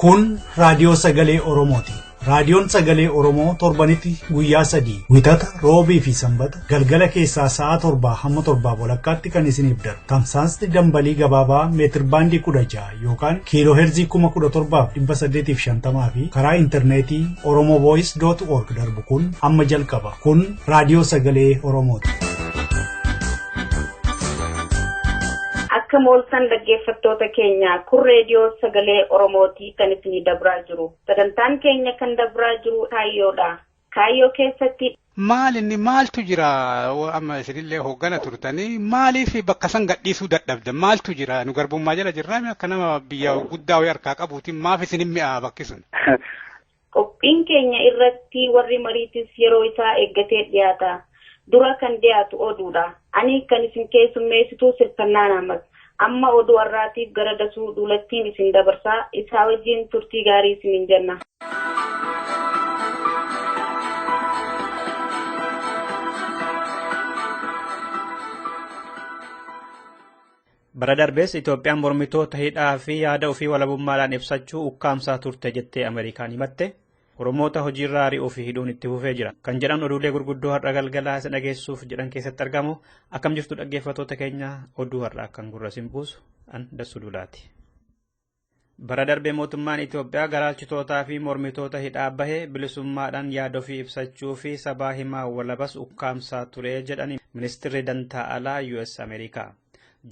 Kun raadiyoo sagalee Oromooti. Raadiyoon sagalee Oromoo torbanitti guyyaa sadii wixata roobii fi sanbata galgala keessaa sa'a torbaa hamma torbaa walakkaatti kan isiniif darbu tamsaasni dambalii gabaabaa meetirbaandii kudha ja'a yookaan kiilooheerzii 17,850 fi karaa intarneetii oromovoice.org darbu kun amma jalqaba. Kun raadiyoo sagalee Oromooti. Akka mooltan dhaggeeffattoota keenya kun reediyoo sagalee Oromootii kan isinii dabraa jiru. Sagantaan keenya kan dabraa jiru kaayyoodha. kaayyoo keessatti. Maal inni maaltu jira amma isinillee hooggana turtanii maaliif bakka san gadhiisuu dadhabdan maaltu jira nu garbummaa jala jirraami akka nama biyya guddaa wayii harkaa qabuutiin maaf isin hin mi'aa bakki sun. Qophiin keenya irratti warri mariitis yeroo isaa eeggatee dhiyaata. Dura kan dhiyaatu oduudha. Ani kan isin keessummeessituu Sirkannaan Ahmad. Amma oduu har'aatiif gara Dasuu Duulattiin isin dabarsa. Isaa wajjin turtii gaarii isiniin jenna. Bara darbees Itoophiyaan mormitoota hidhaa fi yaada ofii walabummaadhaan ibsachuu ukkaamsaa turte jettee Ameerikaan himatte. Oromoota hojiirraa ari'uu fi hidhuun itti fufee jira. Kan jedhan oduulee gurguddoo har'a galgalaa isa dhageessuuf jedhan keessatti argamu. Akkam jirtu dhaggeeffatoota keenya oduu har'a akkan gurra sin buusu an dassuu duulaati. Bara darbe mootummaan Itoophiyaa garaalchitootaa fi mormitoota hidhaa bahe bilisummaadhaan yaada ofii ibsachuu fi sabaa himaa walabas ukkaamsaa ture jedhani ministirri dantaa alaa US Ameerikaa.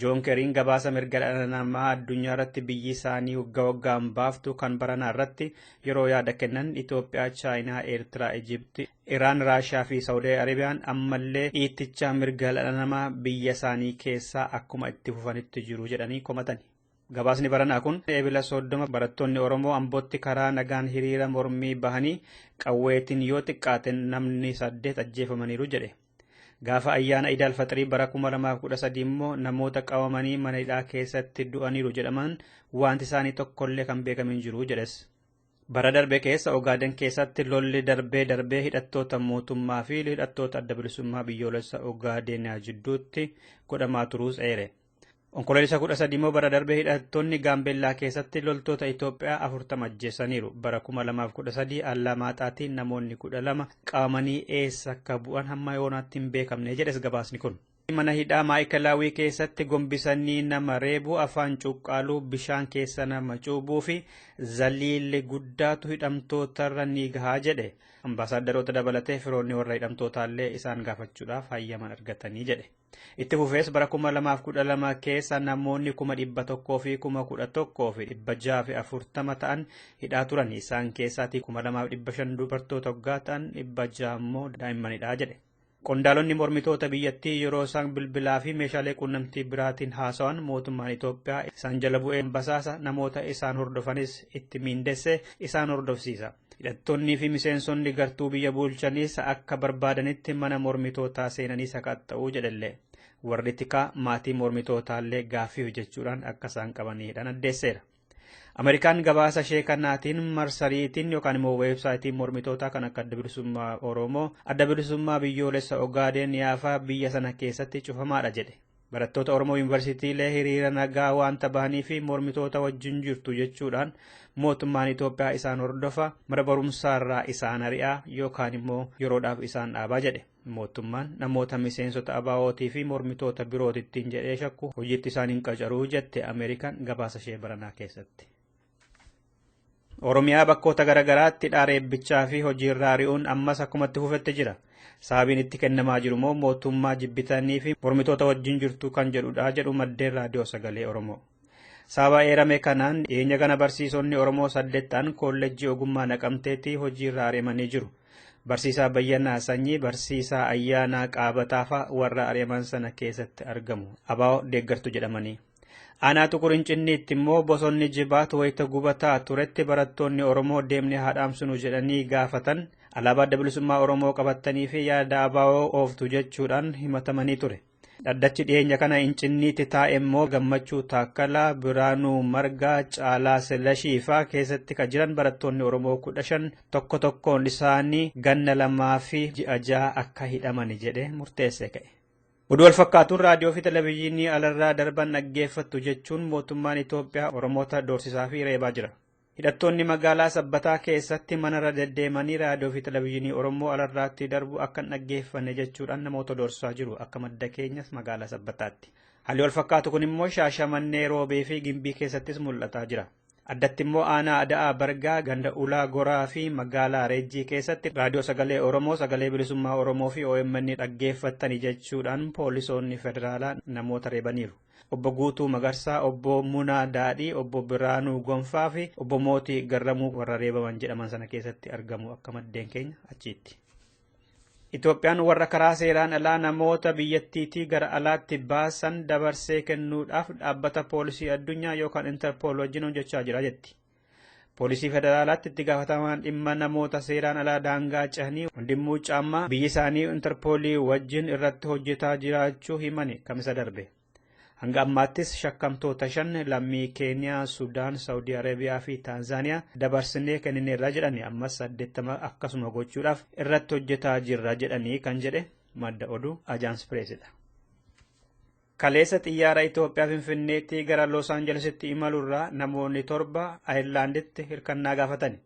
Joon Keriin gabaasa mirga dhala namaa addunyaa irratti biyyi isaanii waggaa waggaan baaftu kan baranaa irratti yeroo yaada kennan Itoophiyaa, Chaayinaa, Eertiraa, Ijipti, Iraan, Raashiyaa fi Saawudii Arabiyaan ammallee dhiitticha mirga dhala namaa biyya isaanii keessaa akkuma itti fufanitti jiru jedhanii komatani. Gabaasni baranaa kun eebila soddoma barattoonni Oromoo Ambootti karaa nagaan hiriira mormii bahanii qawweetiin yoo xiqqaate namni saddeet ajjeefamaniiru jedhe. Gaafa ayyaana Idaal Faxirii bara 2013 immoo namoota qabamanii mana hidhaa keessatti du'aniiru jedhaman wanti isaanii tokkollee kan beekame hin jiru jedhes. Bara darbe keessa Ogaaden keessatti lolli darbee darbee hidhattoota mootummaa fi hidhattoota adda bilisummaa biyyoolessa Ogaadenaa jidduutti godhamaa turuus eere. Onkoloolessa 13 immoo bara darbe hidhattoonni Gaambeellaa keessatti loltoota Itoophiyaa 40 ajjeesaniiru. Bara 2013 Allamaaxaatiin namoonni 12 qabamanii eessa akka bu'an hamma yoonaatti hin beekamne jedhes gabaasni kun. Mana hidhaa Maa'ikalaawii keessatti gombisanii nama reebuu, afaan cuqqaaluu, bishaan keessa nama cuubuu fi zaliilli guddaatu hidhamtootarra ni gahaa jedhe. Ambaasaaddaroota dabalatee firoonni warra hidhamtootaallee isaan gaafachuudhaaf hayyaman argatanii jedhe. Itti fufees bara 2012 keessa namoonni 100,000 fi 11,640 ta'an hidhaa turan. Isaan keessaatii 2,500 dubartoota hoggaa ta'an 600 immoo daa'immanidha jedhe. Qondaalonni mormitoota biyyattii yeroo isaan bilbilaa fi meeshaalee quunnamtii biraatiin haasawan mootummaan Itoophiyaa isaan jala bu'ee basaasa namoota isaan hordofanis itti miindessee isaan hordofsiisa. Hidhattoonnii fi miseensonni gartuu biyya bulchaniis akka barbaadanitti mana mormitootaa seenanii sakatta'uu jedhellee warri tikaa maatii mormitootaallee gaaffii hojjechuudhaan akka isaan qabanii hidhan addeesseera. Ameerikaan gabaasa ishee kanaatiin marsariitiin yookaan immoo weebsaayitiin mormitootaa kan akka adda bilisummaa Oromoo, adda bilisummaa biyyoolessa Ogaadeen yaafaa biyya sana keessatti cufamaadha jedhe. Barattoota Oromoo Yuunivarsiitiilee hiriira nagaa waanta bahanii fi mormitoota wajjin jirtu jechuudhaan mootummaan Itoophiyaa isaan hordofa mana barumsaarraa isaan ari'aa yookaan immoo yeroodhaaf isaan dhaabaa jedhe. Mootummaan namoota miseensota ABOtii fi mormitoota birootittiin jedhee shakku hojiitti isaan hin qacaruu jette Ameerikaan gabaasa ishee baranaa keessatti. Oromiyaa bakkoota garaagaraatti dhaara eebbichaa fi hojiirra ari'uun ammas akkumatti fufetti jira. Sababiin itti kennamaa jiru immoo mootummaa jibbitanii fi mormitoota wajjin jirtu kan jedhudha jedhu maddeen raadiyoo sagalee Oromoo. Sababa eerame kanaan dhiyeenya kana barsiisonni Oromoo saddeet ta'an koolleejjii ogummaa naqamteetti hojiirra ari'amanii jiru. Barsiisaa Bayyanaa Sanyii, Barsiisaa Ayyaanaa Qaabataafaa warra ari'aman sana keessatti argamu. Abaa'oo deeggartu jedhamanii. Aanaa Xuqur Incinniitti immoo bosonni jibaat wayita gubataa turetti barattoonni Oromoo deemnee haa dhaamsinu jedhanii gaafatan alaabaa adda bilisummaa Oromoo qabattanii fi yaada abaa'oo ooftu jechuudhaan himatamanii ture. Dhaddachi dhiyeenya kana Incinniitti taa'e immoo Gammachuu Taakkalaa, Biraanuu Margaa, Caalaa Silashii faa keessatti kan jiran barattoonni Oromoo kudha shan tokko tokkoon isaanii ganna lamaa fi ji'a ja'a akka hidhamani jedhee murteessee ka'e. Oduu walfakkaatuun raadiyoo fi televezyiinii alarraa darban dhaggeeffattu jechuun mootummaan Itoophiyaa Oromoota doorsisaa fi reebaa jira. Hidhattoonni magaalaa Sabbataa keessatti manarra deddeemanii raadiyoo fi televezyiinii Oromoo alarraatti darbu akka hin dhaggeeffanne jechuudhaan namoota doorsisaa jiru akka madda keenyas magaalaa Sabbataatti. Haalli walfakkaatu kun immoo Shaashamannee, Roobee fi Gimbii keessattis mul'ataa jira. Addatti immoo aanaa Ada'aa Bargaa ganda Ulaa Goraa fi magaalaa Reejjii keessatti raadiyoo sagalee Oromoo, sagalee bilisummaa Oromoo fi OMN dhaggeeffattani jechuudhaan poolisoonni federaalaa namoota reebaniiru. Obbo Guutuu Magarsaa, Obbo Munaa Daadhii, Obbo Biraanuu Gonfaa fi Obbo Mootii Garramuu warra reebaman jedhaman sana keessatti argamu akka maddeen keenya achiitti. Itoophiyaan warra karaa seeraan alaa namoota biyyattiitii gara alaatti baasan dabarsee kennuudhaaf dhaabbata poolisii addunyaa yookaan Interpool wajjin hojjechaa jira jetti. Poolisii federaalaatti itti gaafatamaan dhimma namoota seeraan alaa daangaa cehanii Wandimmuu Caammaa biyyi isaanii Interpoolii wajjin irratti hojjetaa jiraachuu himani kamisa darbe. Hanga ammaattis shakkamtoota shan lammii Keeniyaa, Sudaan, Saawudii Arabiyaa fi Taanzaaniyaa dabarsinee kennineerra jedhani ammas saddeettama akkasuma gochuudhaaf irratti hojjetaa jirra jedhanii kan jedhe madda oduu Ajaans Pireesidha. Kaleessa xiyyaara Itoophiyaa Finfinneetti gara Los Anjelesitti imalurraa namoonni torba Ayirlaanditti hirkannaa gaafatani.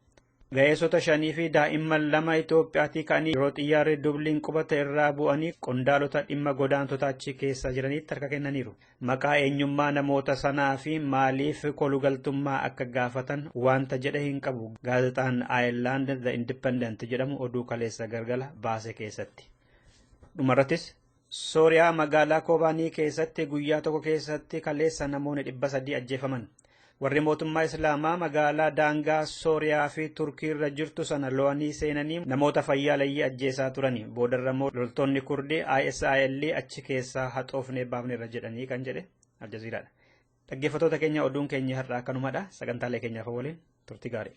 Ga'eessota shanii fi daa'imman lama Itoophiyaatii ka'anii yeroo xiyyaarri Dubliin qubate irraa bu'anii qondaalota dhimma godaantota achi keessa jiraniitti harka kennaniiru. Maqaa eenyummaa namoota sanaa fi maaliif kolugaltummaa akka gaafatan wanta jedhe hin qabu. Gaazexaan Ayeerlaand The Independent jedhamu oduu kaleessa galgala baase keessatti. Dhumarrattis Sooriyaa magaalaa Koobaanii keessatti guyyaa tokko keessatti kaleessa namoonni dhibba sadii ajjeefaman. Warri mootummaa Islaamaa magaalaa daangaa Sooriyaa fi Turkii irra jirtu sana lo'anii seenanii namoota fayyaaleyyii ajjeesaa turani. Boodarra immoo loltoonni Kurdii ISIL achi keessaa haxoofnee baafneerra jedhanii kan jedhe Aljaziiraadha. Dhaggeeffattoota keenya oduun keenya har'aa akkanumadha. Sagantaalee keenyaaf waliin turtii gaarii.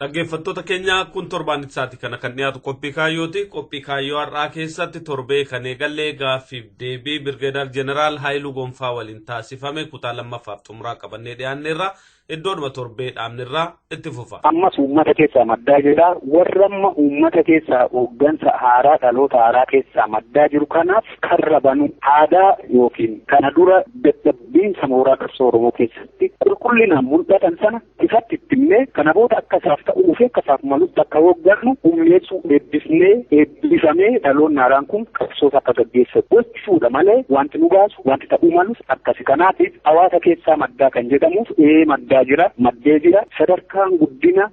Dhaggeeffattoota keenya kun torbaan isaati kana kan dhiyaatu qophii kaayyooti. Qophii kaayyoo har'aa keessatti torbee kan eegalle gaaffiif deebii Birgeedaar Jeneraal Haayiluu Gonfaa waliin taasifame kutaa lammaffaaf xumuraa qabannee dhiyaanneerra. Iddoodhuma torbee dhaabnerraa itti fufa. Ammas uummata keessaa maddaa jedha. Warra amma uummata keessaa hooggansa haaraa dhaloota haaraa keessaa maddaa jiru kanaaf karra banu aadaa yookiin kana dura dadhabbiinsa mooraa qabsoo Oromoo keessatti qulqullinaan mul'atan sana ifatti itti himnee kana booda akka isaaf ta'uu fi akka isaaf malutti akka hooggannu humneessuu eebbisnee eebbifamee dhaloonni haaraan kun qabsoota akka gaggeessan gochuudha malee wanti nu baasu wanti ta'uu malus akkasi kanaatiif hawaasa keessaa maddaa kan jedhamuuf ee maddaa jira maddee jira sadarkaan guddina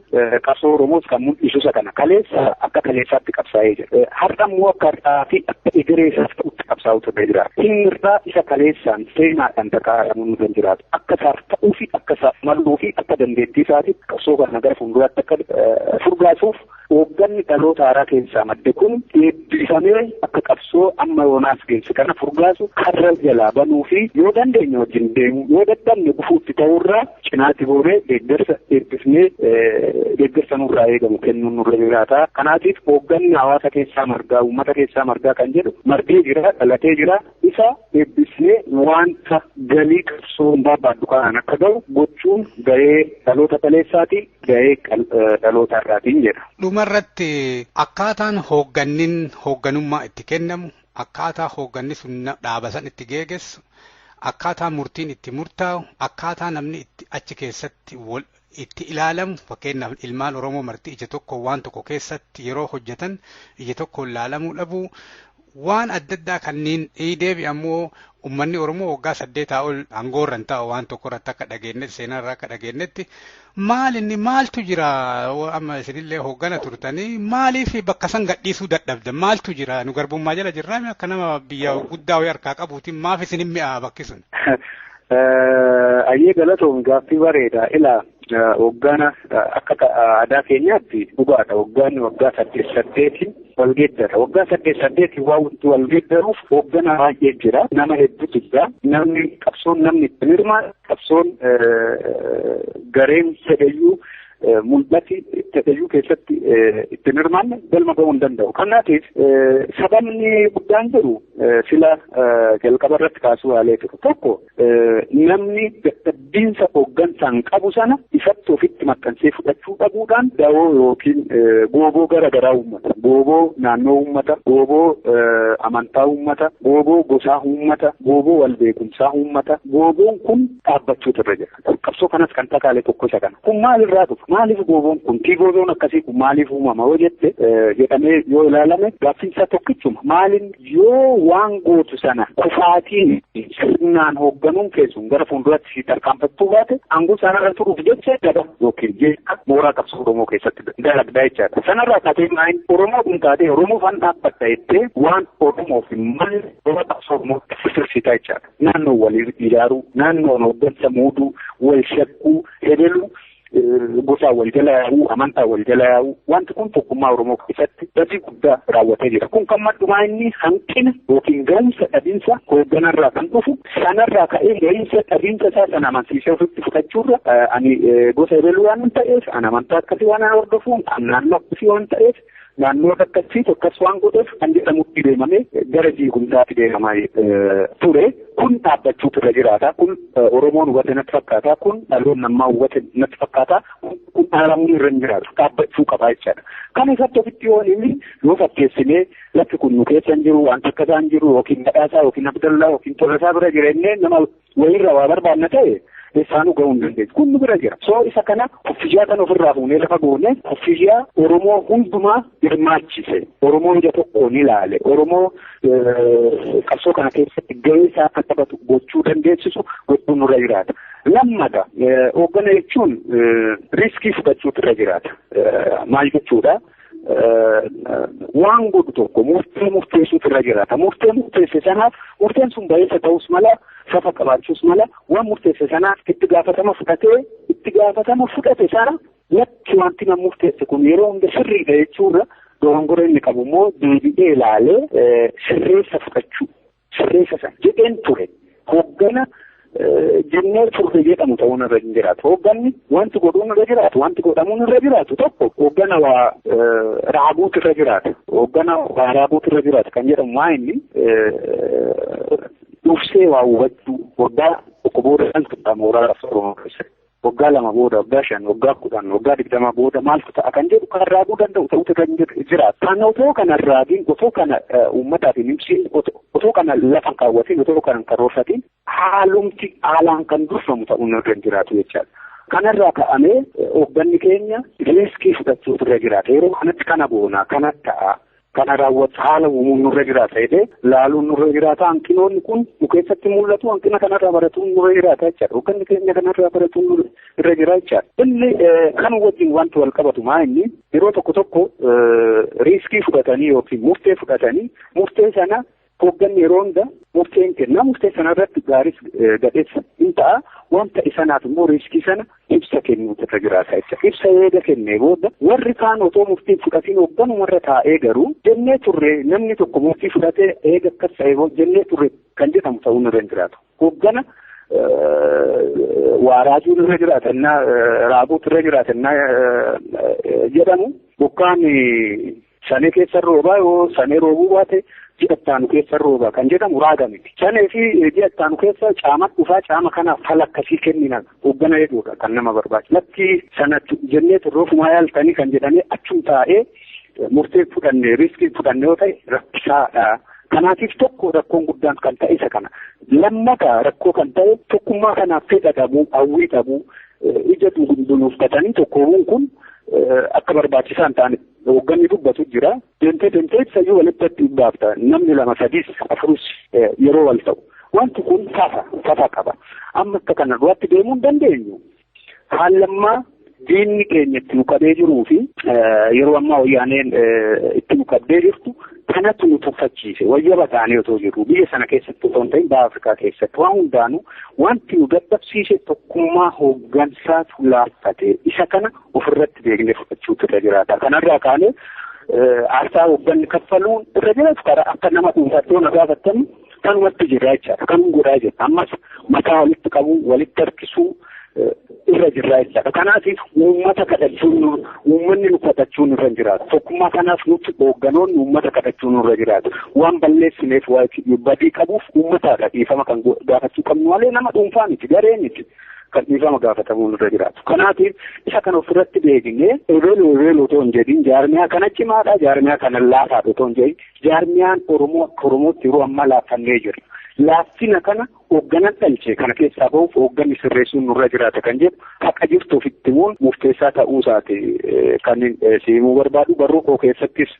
Qabsoo Oromoos kan mul'isu isa kana. Kaleessa akka kaleessaatti qabsaa'ee jira. Har'a immoo akka har'aa fi akka egeree isaas ta'utti qabsaa'u turee jira. Inni irraa isa kaleessaan seenaadhaan takaa'amu nu kan jiraatu. Akka isaaf ta'uu fi akka isaaf maluu fi akka dandeettii isaati qabsoo kana gara fuulduraatti akka furgaasuuf hoogganni dhaloota haaraa keessaa madde kun Dubbifamee akka qabsoo amma yoonaas geesse kana furgaasu karra jalaa banuu fi yoo dandeenye wajjin deemuu yoo dadhabne gufuutti ta'uurraa cinaatti goonee deeggarsa eebbifnee deeggarsa nurraa eegamu kennuun nurra jiraata. Kanaatiif hoogganni hawaasa keessaa margaa uummata keessaa margaa kan jedhu margee jira dhalatee jira Isa eebbisnee waanta galii qabsoon barbaaddu kanaan akka ga'u gochuun gahee dhaloota kaleessaati, gahee dhaloota har'aatiin jedha. Dhumarratti akkaataan hooggannin hoogganummaa itti kennamu, akkaataa hoogganni sun dhaaba san itti geegessu, akkaataa murtiin itti murtaa'u, akkaataa namni itti achi keessatti wal itti ilaalamu fakkeenyaaf ilmaan Oromoo marti ija tokko waan tokko keessatti yeroo hojjetan ija tokkoon laalamuu dhabuu waan adda addaa kanneen deebi ammoo ummanni Oromoo waggaa saddeetaa ol aangoorra hin taa'u waan tokko irratti akka dhageenyetti seenaa irraa akka dhageenyetti maal inni maaltu jira amma isinillee hooggana turtanii maaliif bakka san gadhiisuu dadhabdan maaltu jira nu garbummaa jala jirraa akka nama biyya guddaa wayii harkaa qabuutiin maaf isin hin mi'aa bakki sun. Ayyee galatoom gaaffii bareeda ila waggaan akka aadaa keenyaatti dhugaadha waggaan waggaa saddeet saddeetiin wal geeddara waggaa saddeet saddeetiin waan wanti wal geeddaruuf hoogganaa baay'ee jira nama hedduutu jira namni qabsoon namni itti hirmaatu qabsoon gareen fedhayyuu mul'ati tatayyuu keessatti ittiin hirmaanne galma ga'uu hin danda'u. Kanaatiif sababni guddaan jiru sila jalqaba irratti kaasuu yaalee jiru tokko namni dadhabbiinsa hooggansaan qabu sana ifatti ofitti maxxansee fudhachuu dhabuudhaan dawoo yookiin gooboo gara garaa uummata. Gooboo naannoo uummata, gooboo amantaa uummata, gooboo gosaa uummata, gooboo walbeekumsaa uummata. Gooboon kun dhaabbachuutu irra jira. Kun qabsoo kanas kan dhakaale tokko isa kana. Kun maalirraa dhufa? Maaliif gooboon kun? Tii gooboon akkasii kun maaliif uumama yoo jette jedhamee yoo ilaalame gaaffiin isaa tokkichuma. Maaliin yoo waan gootu sana kufaatiin sirnaan hoogganuun keessuun gara fuulduraatti si tarkaanfattuu baate aangoo sanarra turuuf jecha daba yookiin jeeqa mooraa qabsoo Oromoo keessatti dalagdaa jechaadha. Sanarraa taatee maayin Oromoo kun taatee Oromoo fan dhaabbata jettee waan Oromoof hin malle mooraa qabsoo Oromoo sirsiitaa jechaadha. naannoo wal ijaaruu, naannoo hoggansa muuduu, wal shakkuu, hedeluu gosaa wal jala yaa'uu, amantaa wal jala yaa'uu, wanti kun tokkummaa Oromoo keessatti badii guddaa raawwatee jira. Kun kan maddumaa inni hanqina yookiin ga'umsa dhabinsa hoogganarraa kan dhufu sanarraa ka'ee ga'insa dhabinsa isaa sana amansiisee ofitti fudhachuurra ani gosa hedeluu waan ta'eef, an amantaa akkasii waan hordofuun, an naannoo akkasii waan ta'eef, Naannoo takkattii tokkas waan godheef kan jedhamutti deemamee gara diigumsaatti deemamaa ture. Kun dhaabbachuutu irra jiraata. Kun Oromoon hubate natti fakkaata. Kun dhaloonni ammaa hubate natti fakkaata. Kun dhaalamuun irra hin jiraatu. Dhaabbachuu qabaa jechaadha. Kan isatti ofitti yoo inni yoo fakkeessinee lakki kun nu keessa hin jiru, wanta akka isaan jiru yookiin badhaasaa yookiin abdallaa yookiin tolasaa bira jireenyee nama wayirra waa barbaanna ta'e isaanuu ga'uu hin dandeenye. Kun nu bira jira. Soo isa kana kuffiyyaa kan ofirraa fuunee lafa goone kuffiyyaa Oromoo hundumaa hirmaachise. Oromoo ija tokkoon ilaale. Oromoo qabsoo kana keessatti gahee isaa akka taphatu gochuu dandeessisu gochuu nurra jiraata. Lammata hooggana jechuun riiskii fudhachuutu irra jiraata. Maal jechuudha? waan godhu tokko murtee murteessuutu irra jiraata. Murtee murteesse sanaaf murteen sun bayeessa ta'us mala safa qabaachuus mala waan murteesse sanaaf itti gaafatama fudhatee itti gaafatama fudhate sana lakki wanti nama murteesse kun yeroo hunda sirriidha jechuurra dogongora inni qabu immoo deebi'ee ilaalee sirreessa fudhachuu sirreessa sana jedheen ture hooggana jennee turre jedhamu ta'uun irra hin jiraatu. Hoogganni wanti godhuun irra jiraatu, wanti godhamuun irra jiraatu tokko hooggana waa raabuutu irra jiraata. Hooggana waa raabuutu irra jiraata kan jedhamu maa inni dursee waa hubachuu waggaa tokko booda kan tuqaa mooraa lafa Oromoo keessatti. Waggaa lama booda, waggaa shan, waggaa kudhan, waggaa digdama booda maaltu ta'a kan jedhu kan raaguu danda'u ta'utu kan jira. Kan otoo kana raagiin, otoo kana uummataaf hin ibsiin, otoo kana lafa kaawwatiin, otoo kana hin karoorfatiin haalumti haalaan kan durfamu ta'uun irra hin jiraatu jechaadha. Kanarraa ka'amee hoogganni keenya riiskii fudhachuutu irra jiraata. Yeroo kanatti kana boona, kana ta'a. Kana raawwatu haala uumuun nurra jiraata jedhee laaluun nurra jiraata. Hanqinoonni kun nu keessatti mul'atu hanqina kanarraa baratuun nurra jiraata jechaadha. Hoogganni keenya kanarraa baratuun nurra irra jira jechaadha. Inni kan wajjin wanti wal qabatu maa inni yeroo tokko tokko riiskii fudhatanii yookiin murtee fudhatanii murtee sana Hoogganni yeroo hunda murtee hin kenna. Murtee sana irratti gaaris gadhees hin ta'a. Waan ta'e sanaaf immoo riiskii sana ibsa kennuutu irra jiraata ibsa. Ibsa eega kennee booda warri kaan otoo murtii fudhatiin hoogganuma irra taa'ee garuu jennee turre namni tokko murtii fudhatee eega akkas ta'e jennee turre kan jedhamu ta'uu irra hin jiraatu. Hooggana waa raajuun irra jiraata innaa raaguutu irra jiraata innaa jedhamu bokkaan Sanee keessa hin roobaa yoo sanee roobuu baate ji'a itti aanu keessa hin roobaa kan jedhamu raaga miti. Sanee fi ji'a itti aanu keessa caama dhufaa caama kanaaf fala akkasii kennina hoggana jedhuudha kan nama barbaachisu. Latti sana jennee turroofumaa yaaltanii kan jedhamee achum taa'ee murtee fudhanne riiskii fudhanne yoo ta'e rakkisaadha. Kanaatiif tokko rakkoon guddaan kan ta'e isa kana. Lammata rakkoo kan ta'e tokkummaa kanaaf fedha dhabuu, hawwii dhabuu, ija dunuuffatanii tokkoomuun kun akka barbaachisaa hin taanetti. Hoogganni dubbatu jira. Deemtee deemtee ibsayyuu walitti baafta. Namni lama sadiis afurus yeroo wal ta'u. Wanti kun tafa tafa qaba. Amma akka kana duratti deemuu hin dandeenyu. Haallammaa diinni keenya itti nu qabee jiruu fi yeroo ammaa wayyaaneen itti nu qabdee jirtu kanatu nu tuffachiise. Wayyaba taanee otoo jirru biyya sana keessatti otoo hin ta'in baha Afrikaa keessatti waan hundaanuu wanti nu dadhabsiise tokkummaa hooggansaatu laaffate. Isa kana ofirratti beeknee fudhachuutu irra jiraata. Kanarraa kaanee aarsaa hoogganni kaffaluun irra jiraatu karaa akka nama dhuunfaatti yoo na gaafattan kanumatti jirra jechaadha. Kanuma godhaa jirra. Ammas mataa walitti qabuu, walitti harkisuu irra jirra jechaadha. Kanaatiif uummata kadhachuun uummanni nu kadhachuun irra jiraatu. Tokkummaa kanaaf nuti hoogganoonni uummata kadhachuun irra jiraatu. Waan balleessineef badii qabuuf uummatadha dhiifama kan gaafachuu qabnu malee nama dhuunfaa miti garee miti. kan dhiifama gaafatamuun irra jiraatu. Kanaatiif isa kan ofirratti deebinee ebeelu ebeelu otoo hin jedhin jaarmiyaa kana cimaadha jaarmiyaa kana laafaadha otoo hin jedhin jaarmiyaan Oromoo akka Oromootti yeroo ammaa laaffannee jiru. Laaffina kana hoogganan dhalche kana keessaa bahuuf hoogganni sirreessuun nurra jiraata kan jedhu haqa jirtu ofitti immoo murteessaa ta'uu isaati kan si himuu barbaadu barruu koo keessattis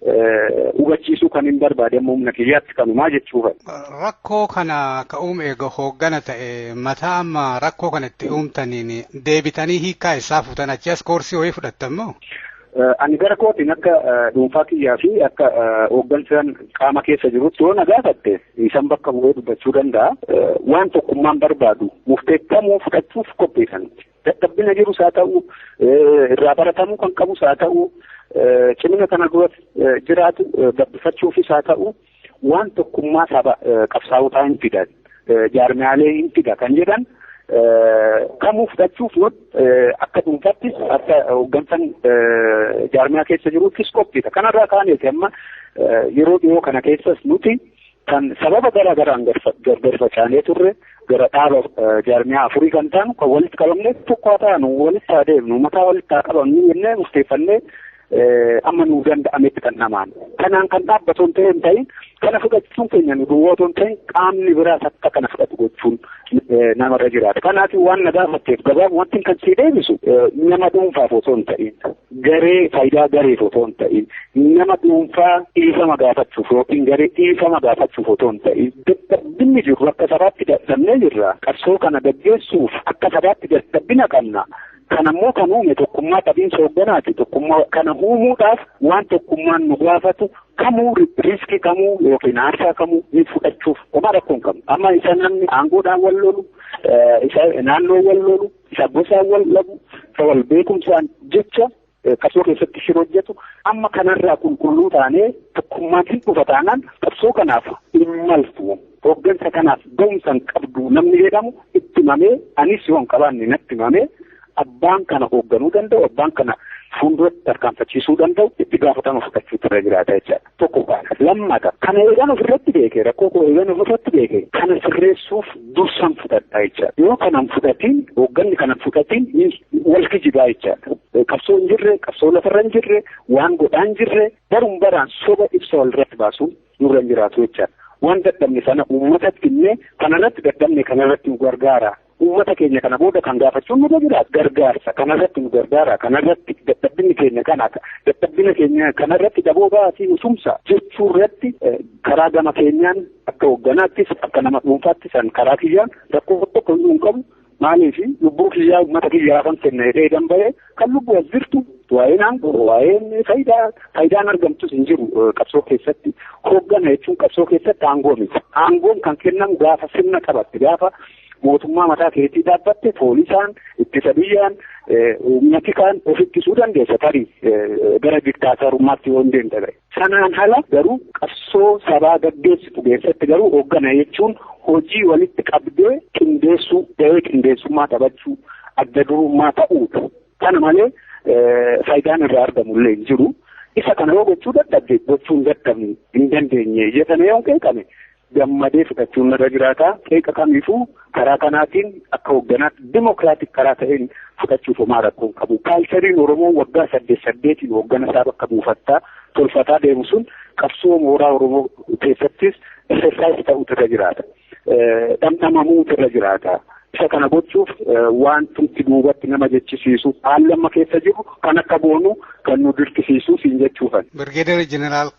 hubachiisuu kan hin barbaade amma humna kiyyaatti kanumaa jechuudha. Rakkoo kana ka uume eega hooggana ta'e mataa amma rakkoo kana itti uumtaniin deebitanii hiikkaa eessaa fuutan achi as koorsii wayii fudhattan moo? Ani gara kootiin akka dhuunfaa kiyyaa fi akka hooggansaan qaama keessa jirutti yoo na gaafatte isan bakka bu'ee dubbachuu danda'a. Waan tokkummaan barbaadu murteeffamuu fudhachuuf qopheessan. Dadhabbina jirus haa ta'u irraa baratamuu kan qabus haa ta'u cimina kana duras jiraatu gabbifachuufis haa ta'u waan tokkummaa saba qabsaa'otaa hin fidan jaarmiyaalee hin fida kan jedhan kamuu fudhachuuf akka dhuunfattis akka hooggansan jaarmiyaa keessa jiruuttis qophiidha. Kanarraa kaaneeti amma yeroo dhiyoo kana keessas nuti kan sababa garaa garaan gargar facaanee turre gara dhaaba jaarmiyaa afurii kan taanu kan walitti qabamne tokko haa taanu walitti haa deemnu mataa walitti haa qabamnu jennee murteeffannee amma nuu danda'ametti kan namaan kanaan kan dhaabbatu hin ta'in ta'in kana fudhachuun keenya nu duwwaa otoo hin ta'in qaamni biraas akka kana fudhatu gochuun namarra jiraata kanaaf waan na gaafatteef gabaabumatti kan sii deebisu nama dhuunfaaf osoo hin ta'in Garee faayidaa gareef otoo hin ta'in nama dhuunfaa dhiifama gaafachuuf yookiin garee dhiifama gaafachuuf otoo hin ta'in dadhabbinni jiru akka sabaatti dadhabnee jirra. Qabsoo kana gaggeessuuf akka sabaatti dadhabbina qabna. Kana immoo kan uume tokkummaa qabiinsa hoogganaati. Tokkummaa kana uumuudhaaf waan tokkummaan nu gaafatu kamuu riiskii kamuu yookiin aarsaa kamuu ni fudhachuuf homaa rakkoo hin qabnu. Amma isa namni aangoodhaan wal lolu, isa naannoo wal lolu, Isa gosaan wal dhabu, isa wal beekumsaan jecha qabsoo keessatti shira hojjetu amma kanarraa qulqulluu taanee tokkummaan hin dhufa taanaan qabsoo kanaaf hin maltu. Hooggansa kanaaf gahumsa hin qabdu namni jedhamu itti himamee anis yoo hin qabaanne natti himamee abbaan kana hoogganuu danda'u abbaan kana fuulduratti tarkaanfachiisuu danda'u itti gaafatama fudhachuutu irra jiraata jechaadha. tokko baana. Lammata kana eegan ofirratti beekee rakkoo koo eegan ofirratti beekee kana sirreessuuf dursan fudhadhaa jechaadha. Yoo kanan fudhatiin hoogganni kana fudhatiin wal kijibaa jechaadha. Qabsoo hin jirre qabsoo lafarra hin jirre waan godhaa hin jirre baruun baraan soba ibsa walirratti baasuun nurra hin jiraatu jechaadha. Waan dadhabne sana uummatatti illee kanarratti dadhabne kanarratti nu gargaara Uummata keenya kana booda kan gaafachuun nurra jira gargaarsa kanarratti nu gargaara kanarratti dadhabbinni keenya kana dadhabbina keenya kanarratti daboo ba'aatii nu tumsa jechuurratti karaa gama keenyaan akka hoogganaattis akka nama dhuunfaattis an karaa kiyyaan rakkoo tokko hin qabu maaliif lubbuu kiyyaa uummata kiyyaa kan kenne jedhee danba'ee Kan lubbu as jirtu waa'een aangoo waa'een faayidaa faayidaan argamtus hin jiru qabsoo keessatti hooggana jechuun qabsoo keessatti aangoo miti. Aangoon kan kennamu gaafa sirna qabatte gaafa mootummaa mataa keetii dhaabbatte poolisaan ittisa biyyaan humna tikaan of ittisuu dandeessa tarii gara diktaatarummaatti yoo hin deemne ta'e. Sanaan ala garuu qabsoo sabaa gaggeessitu keessatti garuu hooggana jechuun hojii walitti qabdee qindeessuu gahee qindeessummaa taphachuu adda durummaa ta'uudha. Kana malee faayidaan irraa argamu illee hin jiru. Isa kana yoo gochuu dadhabde gochuu hin dadhabne hin dandeenye jedhame yoo qeeqame gammadee fudhachuun narra jiraata. Qeeqa kamiifuu karaa kanaatiin akka hoogganaatti dimokiraatik karaa ta'een fudhachuuf homaa rakkoo hin qabu. Kaalchariin Oromoo waggaa saddeet saddeetiin hooggana isaa bakka buufattaa tolfataa deemu sun qabsoo mooraa Oromoo keessattis exercise ta'uutu irra jiraata. Dhamdhamamuutu irra jiraata. Isa kana gochuuf wantumti duubatti nama jechisiisu haalli amma keessa jiru kan akka boonu kan nu dirqisiisu siin jechuufan. Birgeedar Jeneraal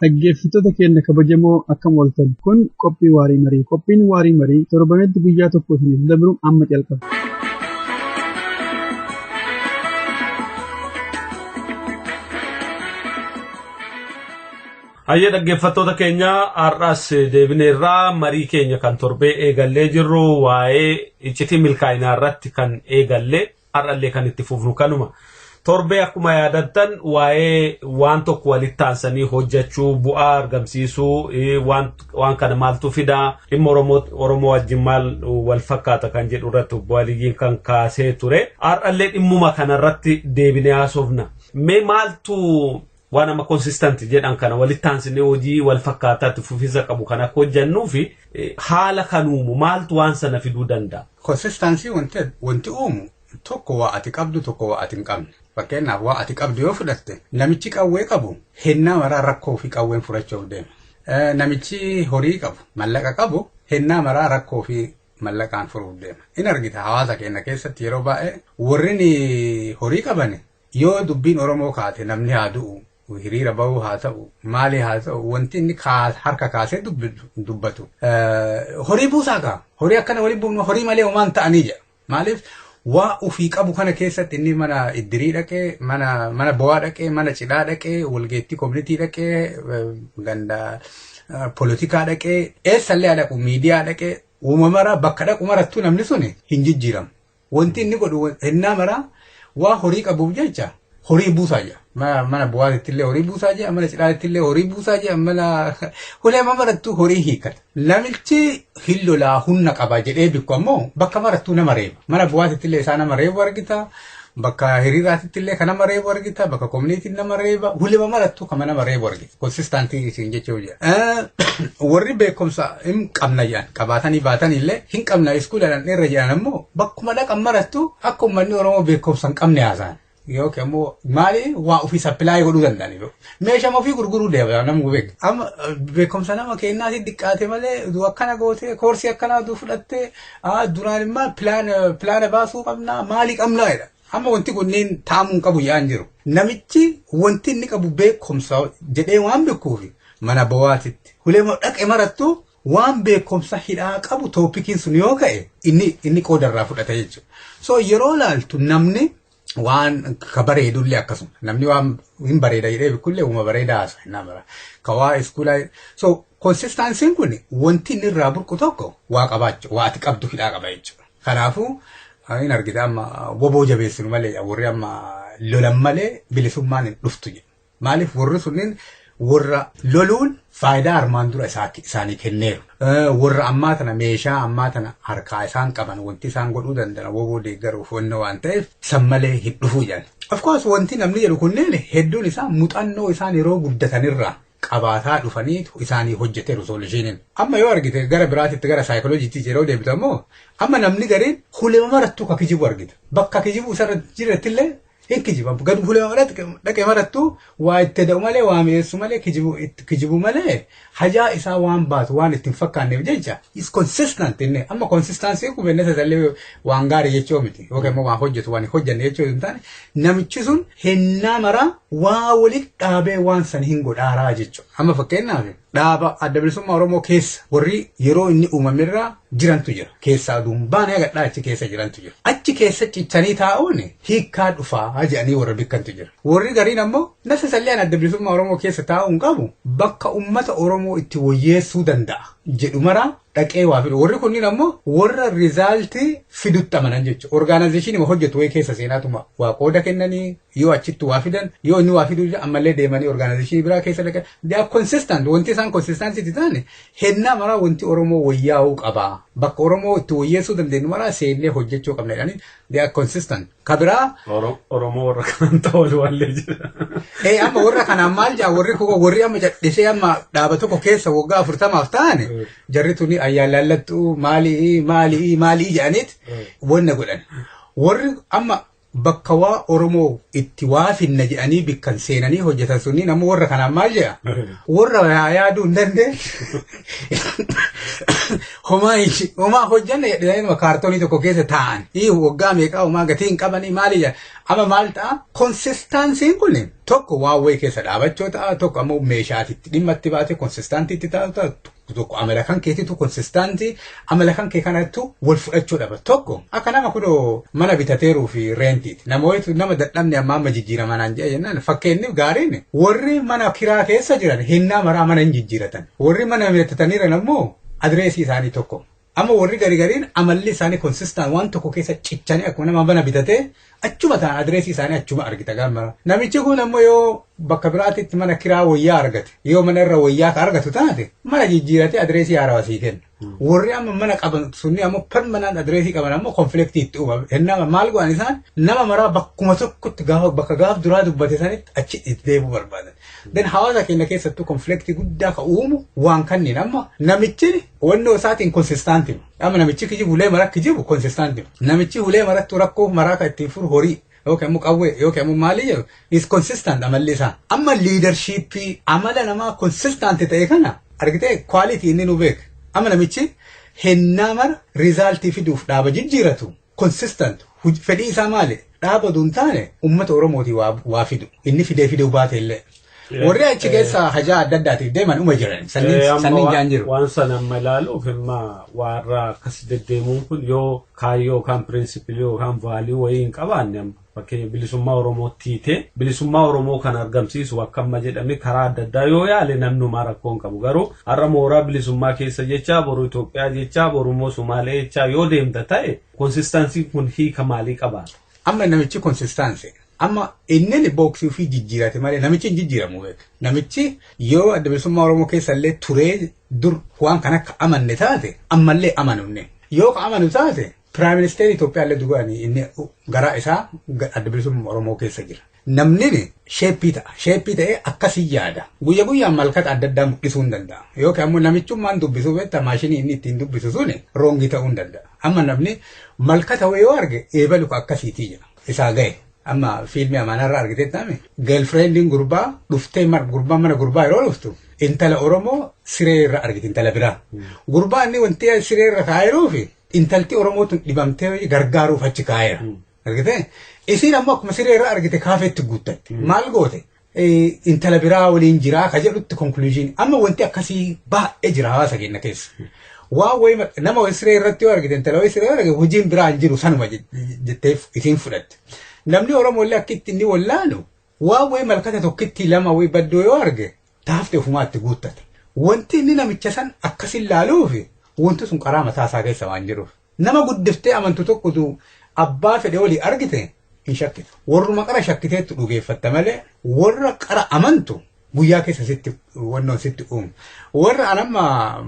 Dhaggeeffattoota keenya kabajamoo akkam ooltan kun qophii waarii marii qophiin waarii marii torbanitti guyyaa tokko isiniif dabru amma calqaba. Hayyee dhaggeeffattoota keenya har'as deebineerraa marii keenya kan torbee eegallee jirru waa'ee iccitii milkaa'inaa irratti kan eegalle Har'allee kan itti fufnu kanuma. Torbee akkuma yaadattan waa'ee waan tokko walitti aansanii hojjechuu, bu'aa argamsiisuu, waan, waan kana maaltu fida, dhimma Oromoo, Oromoo wajjin maal wal fakkaata kan jedhu irratti obbo Aliyyiin kan kaasee ture. Har'allee dhimmuma kanarratti deebinee haasofna. Mee maaltu waan amma consistent jedhan kana walitti aansinee hojii wal fakkaataa itti fufiinsa qabu kan akka hojjannuu fi haala kan uumu maaltu waan sana fiduu danda'a. Consistency wanti wanti uumu tokko waa ati qabdu tokko waa ati hin qabne. Fakkeenyaaf waa ati qabdu yoo fudhatte namichi qawwee qabu hennaa maraa rakkoo fi qawween furachuuf deema. Namichi horii qabu mallaqa qabu hennaa maraa rakkoo fi mallaqaan furuuf deema. In argita hawaasa keenya keessatti yeroo baay'ee warri horii qaban Yoo dubbiin Oromoo kaate namni haa du'u, hiriira bahuu haa ta'u, maali haa ta'u wanti inni harka kaasee dubbatu horii buusaa kaa. Horii akkana waliin buufnu horii malee homaa hin ta'anii jedha. Maaliif waa ofii qabu kana keessatti inni mana iddirii dhaqee, mana, mana bowaa dhaqee, mana cidhaa dhaqee, walgeettii koominitii dhaqee, ganda polotikaa dhaqee, eessallee haa dhaqu, miidiyaa dhaqee, uumamara bakka dhaqu marattuu namni suni hin jijjiiramu. Wanti inni godhu hennaa maraa waa horii qabuuf jecha horii buusaa jira. Ma- Mana bu'aatitti illee horii buusaa jira, mana cidhaatti illee horii buusaa jira, mana hulee marattuu horii hiikkata. Namichi hin lolaa humna qaba jedhee bikku ammoo bakka marattuu nama reeba. Mana bu'aatitti illee isaa nama reebu argita. Bakka hiriiraatitti illee kan nama reebu argita. Bakka koominiitiin nama reeba. Hulema marattuu kan nama reebu argita. konsistaantii isin jechuu jira. Warri beekumsa hin qabna jedhan qabaatanii baatan illee hin qabna iskuulaan irra jedhan ammoo bakkuma dhaqan marattu akka uummanni Oromoo beekumsa hin qabne haasa'an. Yookiin ammoo maali waa ofii sappilaayii godhuu danda'an iyyuu. Meeshaa ofii gurguruu deebi'an nama beeku. Amma beekumsa nama keenyaati diqqaate malee du akkana gootee koorsii akkanaa du fudhattee duraan immoo pilaana baasuu qabnaa maalii qabnaa jedha. Amma wanti kunniin taa'amuu hin qabu yaa'an jiru. Namichi wanti inni qabu beekumsa jedhee waan beekuufi mana bowaatitti huleema dhaqe marattu waan beekumsa hidhaa qabu tooppikiin sun yoo ka'e inni inni qooda irraa fudhata jechuudha. So yeroo laaltu namni waan ka bareedullee akkasuma namni waan hin bareeda jedhee beekullee uuma bareedaa haasa hin amara. Ka waa iskuulaa so konsistaansiin kun wanti inni irraa burqu tokko waa qabaachu waa ati qabdu hidhaa qaba jechuudha. Kanaafu hin argita amma woboo jabeessinu malee jedha warri amma lolan malee bilisummaan hin dhuftu jedhu. Maaliif warri sunniin warra loluun faayidaa armaan dura isaanii kenneeru. Warra ammaa tana meeshaa ammaa tana harkaa isaan qaban wanti isaan godhuu danda'an woboo deeggaruuf wanna waan ta'eef san malee hin dhufuu jedhan. Of course wanti namni jedhu kunneen hedduun isaa muxannoo isaan yeroo guddatanirraa qabaataa dhufaniitu isaanii hojjete rizooluushiiniin. Amma yoo argite gara biraatitti gara saayikolojiitti yeroo deebitu ammoo amma namni gariin hulema marattuu ka kijibu argita. Bakka kijibu isarra jirattillee hin kijiba. Gad hulema maratti dhaqe marattuu waa itti da'u malee waa mi'eessu malee kijibu itti kijibu malee hajaa isaa waan baatu waan itti hin fakkaanneef jecha is consistent inni amma consistency kun bennesa isallee waan gaarii jechuu miti yookiin immoo waan hojjetu waan hin hojjenne jechuu hin taane namichi sun hennaa maraa waa walitti dhaabee waan san hin godhaaraa jechuudha. Amma fakkeenyaaf dhaaba adda bilisummaa Oromoo keessa warri yeroo inni uumamerraa jirantu jira. Keessaa aduun baanee gadhaa achi keessa jirantu jira. Achi keessa cichanii taa'uun hiikkaa dhufaa jedhanii warra bikkantu jira. Warri gariin ammoo nasa salleen adda bilisummaa Oromoo keessa taa'uun qabu bakka uummata Oromoo itti woyyeessuu danda'a. jedhu maraa dhaqee waa fidu. Warri kunniin ammoo warra rizaaltii fidutti amanan jechuudha. Orgaanaayzeeshiniima hojjetu wayii keessa seenaatuma waa qooda kennanii yoo achitti waa fidan yoo inni waa fiduu ammallee deemanii orgaanaayzeeshinii biraa keessa dhaqan. They are consistent. Wanti isaan consistancy itti ta'an hennaa maraa wanti Oromoo wayyaa'uu qaba. Bakka Oromoo itti wayyeessuu dandeenyu maraa seennee hojjechuu qabna jedhanii They are consistent. Ka biraa Oro- Oromoo warra kanaan ta'oolu wallee jira. Ee amma warra kanaan maal jaa warri kuko warri amma jadhisee amma dhaaba tokko keessa waggaa afurtamaaf ta'an jarri tuni ayyaan laallattu maali maali maali jedhaniit wanna godhan. Warri amma bakka waa Oromoo itti waa finna jedhanii bikkan seenanii hojjetan sunniin amma warra kanaan maal jedha? Warra yaa yaaduu hin dandeenye. homaa hin- homaa hojjanne jedhanii inuma kaartoonii tokko keessa taa'an ii waggaa meeqaa homaa gatii hin qabanii maali jedha amma maal ta'a konsistaansiin kun tokko waan wayii keessa dhaabachuu ta'a tokko ammoo meeshaatitti dhimma itti baatee konsistaantiitti ta'a tokko amala kan keetiitu konsistaantii Amala kan kee kanattu wal fudhachuu dhaba. Tokko akka nama kudo mana bitateeruu fi reentiiti. Nama wayitu nama dadhabne amma amma jijjiirama naan jedha jennaan fakkeenyi gaariin warri mana kiraa keessa jiran hennaa maraa mana hin jijjiiratan. Warri mana bitataniiran ammoo adireesii isaanii tokko. Amma warri garigariin amalli isaanii konsistaan waan tokko keessa cichanii akkuma nama mana bitatee Achuma ta'a adireesii isaanii achuma argita gaaf mara. Namichi kun ammoo yoo bakka biraatitti mana kiraa wayyaa argate yoo mana irra wayyaa ka argatu taate mana jijjiiratee adireesii haarawa sii kenna. Warri amma mana qaban sunni ammoo permanent adireesii qaban ammoo konfliktii itti uuma. Hennaa maal godhan isaan nama maraa bakkuma tokkotti gaafa bakka gaaf duraa dubbate sanitti achi itti deebi'uu barbaadan. Den hawaasa keenya keessattuu konfliktii guddaa ka uumu waan kanniin amma namichi Hubannoo isaatiin konsistaantii. Amma namichi kijibu hulee maraa kijibu konsistaantii. Namichi hulee marattu rakkoo maraa kan ittiin furu horii yookiin ammoo qawwee yookiin ammoo maalii jedhu is konsistant amalli isaa. Amma liidarshiippii amala namaa konsistaantii ta'e kana argitee kwaalitii inni nu beeka. Amma namichi hennaa mara riizaaltii fiduuf dhaaba jijjiiratu consistent huj fedhii isaa maali dhaaba duun taane ummata oromooti waa, waa fidu inni fidee fiduu baate illee Eh, warri achi eh. keessa hajaa adda addaatiif deeman uma jiran Eh, sanniin amma sanniin wa- jaan jiru Waan sana amma ilaaluuf imma warra akkas deddeemuun kun yoo kaayyoo yookaan pirinsipilii yookaan vaalii wayii hin qabaanne amma Fakkeenya bilisummaa Oromootti hiite. Bilisummaa Oromoo kan argamsiisu akka amma jedhame karaa adda addaa yoo yaale namni homaa rakkoo hin qabu. Garuu har'a mooraa bilisummaa keessa jechaa, boru Itoophiyaa jechaa, boru immoo Sumaalee jechaa yoo deemta ta'e konsistaansiin kun hiika maalii qabaata? Amma namichi konsistaansi. Amma inni booksii ofii jijjiirate malee namichi hin jijjiiramu beeka. Namichi yeroo adda bilisummaa Oromoo keessa illee turee dur waan kan akka amanne taate ammallee amanunne. Yoo ka amanu taate Piraayim Ministeerri Itoophiyaa illee dugaani inni garaa isaa adda bilisummaa Oromoo keessa jira. Namni sheeppii ta'a. Sheeppii ta'ee akkasii yaada. Guyya guyyaan malkata adda addaa mul'isuu hin danda'a. Yookiin ammoo namichummaan dubbisuu beektaa maashinii inni ittiin dubbisu suni roongii ta'uu hin danda'a. Amma namni malkata wayii yoo arge eebalu ka akkasiitii jira. Isaa ga'e. Amma fiilmii amaanaarraa argitee taame geelfireendiin gurbaa dhuftee gurbaa mana gurbaa yeroo dhuftu intala Oromoo siree irra argite intala biraa. Gurbaa inni wanti siree irra kaa'eeruufi Intalti Oromoo tun dhibamtee gargaaruuf achi kaa'eera. Argitee? Isiin ammoo akkuma siree irraa argite kaafeetti guuttatte. Maal goote? Eh, Intala biraa waliin jiraa ka jedhutti konkuluujiin. Amma wanti akkasii baay'ee jira hawaasa keenya keessa. Waan wayii maq- nama wayii siree irratti yoo argite intala wayii siree yoo argite hojiin biraa hin jiru sanuma je- jetteef isiin fudhatte. Namni Oromoo illee akka itti inni wallaalu Waan wayii malkata tokkittii lama wayii baddoo yoo arge ta hafte ufumaa itti guuttata. Wanti inni namicha san akkasin laaluufi wanti sun qaraa mataa isaa keessa waan jiruuf. Nama guddiftee amantu tokko utuu abbaa fedhe walii argite hin shakkitu. Warruma qara shakkiteettu dhugeeffatta malee warra qara amantu guyyaa keessa sitti wannoon sitti uumu. Warra an amma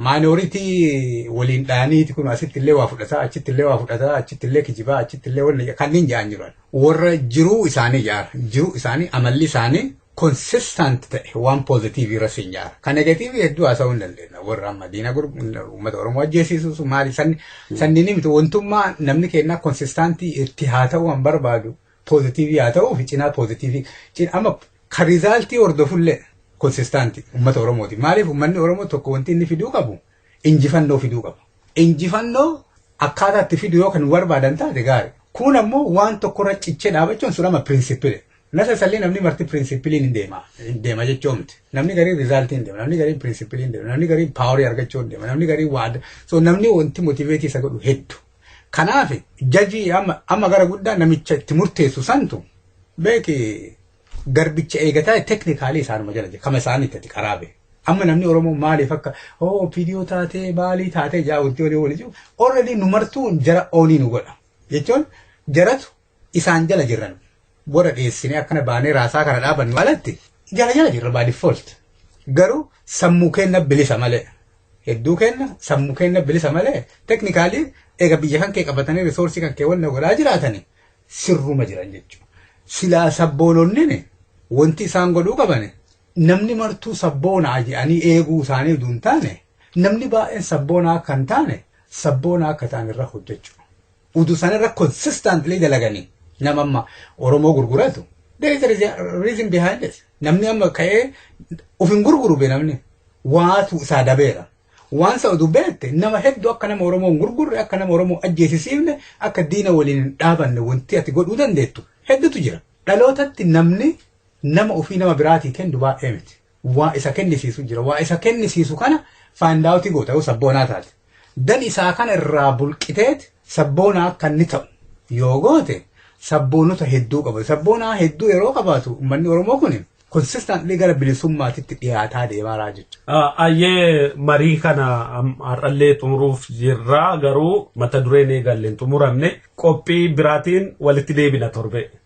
maayinooritii waliin dhaaniiti kun asitti illee waa fudhataa achitti illee waa fudhataa achitti illee kijibaa achitti illee wanni kanneen ja'an jiran. Warra jiruu isaanii jaara jiruu isaanii amalli isaanii consistent ta'e waan poozitiivii irra siin jaara. Kan negatiivii hedduu haasa'uu hin dandeenya. Warra amma diina uummata Oromoo ajjeesiisuus maali sanni sanniin miti wantummaa namni kennaa konsistaantii itti haa ta'uu an barbaadu. poozitiivii haa ta'uu fi cinaa poozitiivii cin- amma kan rizaaltii hordofullee konsistaanti uummata Oromooti. Maaliif uummanni Oromoo tokko wanti inni fiduu qabu injifannoo fiduu qaba. Injifannoo akkaataa itti fidu yoo kan barbaadan taate gaari. Kun ammoo waan tokkorra cichee dhaabachuun sun amma pirinsipile. Nasa sallee namni marti pirinsipiliin hin deema. Hin deema jechuu miti. Namni gariin rizaaltii hin deema. Namni gariin pirinsipilii hin deema. Namni gariin paaworii argachuu hin deema. Namni gariin waada. So namni wanti motiveetii isa godhu heddu. Kanaaf jajii amma amma gara guddaa namicha itti murteessu santu beeki garbicha eegataa teknikaalii isaanuma jala jira kama isaanii itti qaraabe. Amma namni Oromoo maaliif akka hoo opiidiyoo taatee maalii taatee jaa wanti olii olii jiru already nu martuu jara oonii nu godha jechuun jaratu isaan jala jirran warra dheessinee akkana baanee raasaa kana dhaabannu alatti jala jala jirra by default garuu sammuu keenna bilisa malee hedduu keenna sammuu keenna bilisa malee teknikaalii eega biyya kan kee qabatanii risoorsii kan kee wanna godhaa jiraatanii sirruma jiran jechuudha. Silaa sabboononnin wanti isaan godhuu qabani namni martuu sabboonaa jedhanii eeguu isaanii utuu hin taane namni baay'een sabboonaa akka hin taane sabboonaa akka ta'an irra hojjechuu. Udu sanarra consistently dalaganii nama amma Oromoo gurguratu there is a reason- reason behind it. Namni amma ka'ee of hin gurguru be namni waatu isaa dabeera. Waan isa oduu beekte nama hedduu akka nama Oromoo hin gurgurre akka nama Oromoo ajjeesisiifne akka diina waliin hin dhaabanne wanti ati godhuu dandeettu hedduutu jira. Dhalootatti namni nama ofii nama biraatii kennu baay'ee miti. waa isa kennisiisu jira. Waa isa kennisiisu kana find out goota yoo sabboonaa taate. Dan isaa kana irraa bulqiteet sabboonaa akka inni ta'u yoo goote sabboonota hedduu qabatu. Sabboonaa hedduu yeroo qabaatu uummanni Oromoo kun consistently gara bilisummaatitti dhiyaataa deemaa jira jechuudha. Ayyee marii kana har'allee xumuruuf jirra garuu mata dureen eegalleen xumuramne qophii biraatiin walitti deebina torbee.